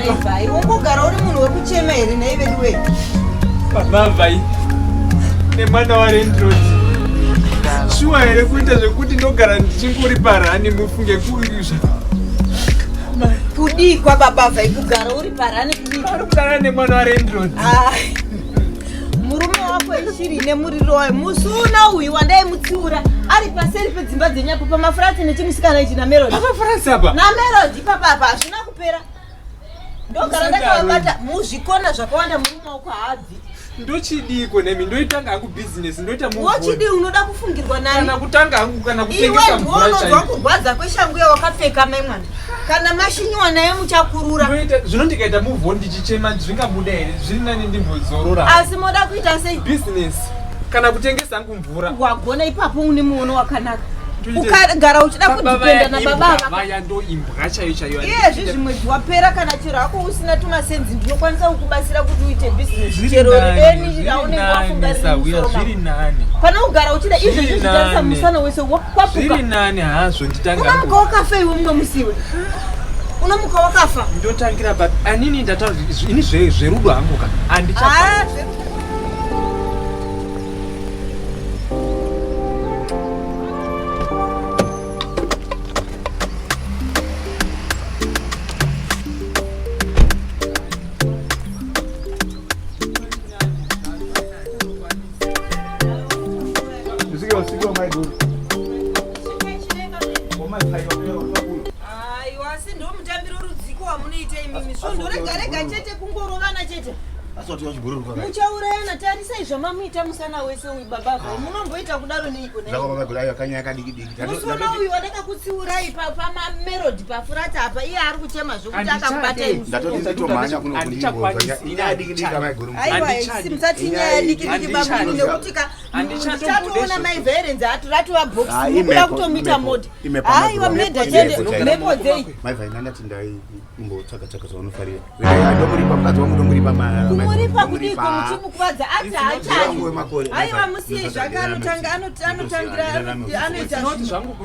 Mavai, wongogara uri munhu wekuchema here nei veduwe? Mavai, nemwana warendrod shuwa here kuita zvekuti ndogara ndichinguri parani mufunge kuizva kudii kwababa vhai kugara uri parani kudii? Ari kugara nemwana warendrod murume wako ishiri ine muriro wayo musi una uyu wandaimutsiura ari paseri pedzimba dzenyapo pamafurati nechimusikana ichi namerodi pamafurati apa namerodi papa apa hazvina kupera ndogara ndakavabata muzvikona zvakawanda murume wako haabvi ndochidiko nemi ndoitanga hangu business ndoita wochidi unoda kufungirwa nani kana kutanga hangu kana kutengesa mvura chaiyo kurwadza kweshangu yawakapfeka mai mwana kana mashinyiwa naye muchakurura zvino ndikaita move on ndichichema zvingabuda here zviri nani ndimbozorora asi moda kuita sei business kana kutengesa hangu mvura wagona ipapo une muono wakanaka ukagara uchida kudipenda na baba vaya ndo imbwa chayo chayo iyezvi zvimwe zviwapera kana chero hako usina tumasenzi ndinokwanisa kukubatsira kuti uite business chero eni raunenge wafungarisauya zviri nani pane kugara uchida izvo zvichitarisa musana wese wo zviri nani hazvo nditangamuka wakafa iwe mumwe musiwe unomuka wakafa ndotangira but anini ndataura ini zverudo hangu ka andicha ah, muchaurayana tarisai zvamamuita musana wese uyu baba ah. vhai munomboita kudaro neikomusona uyu wadakakutsiurai pamamerodi pafurata apa iye ari kuchema zvokuti akakubataimusati nyaya dikidiki baba nekuti ka Chatoona mai Verenzi ati ratova box ah, mukuda kutomita mode. Haiwa meda chende mhepo dzei. Mai Vaina ndati ndai mbotsvaga tsvaga zvaunofarira. Regai ndomuripa mukadzi wangu ndomuripa mara. Kumuripa kudiko muchimukuvadza ati haachani. Haiwa musiye zvake anotanga anotangira anoita zvangu.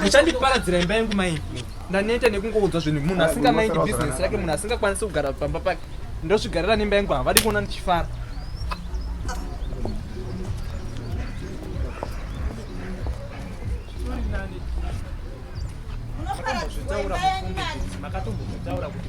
muchandiparadzira imba yangu mai ndaneta nekungoudzwa zvinhu munhu asingamaindi bhizinesi yake munhu asingakwanisi kugara pamba pake ndozvigarira nemba yangu havadi kuona ndichifara makatombozvitaura kuti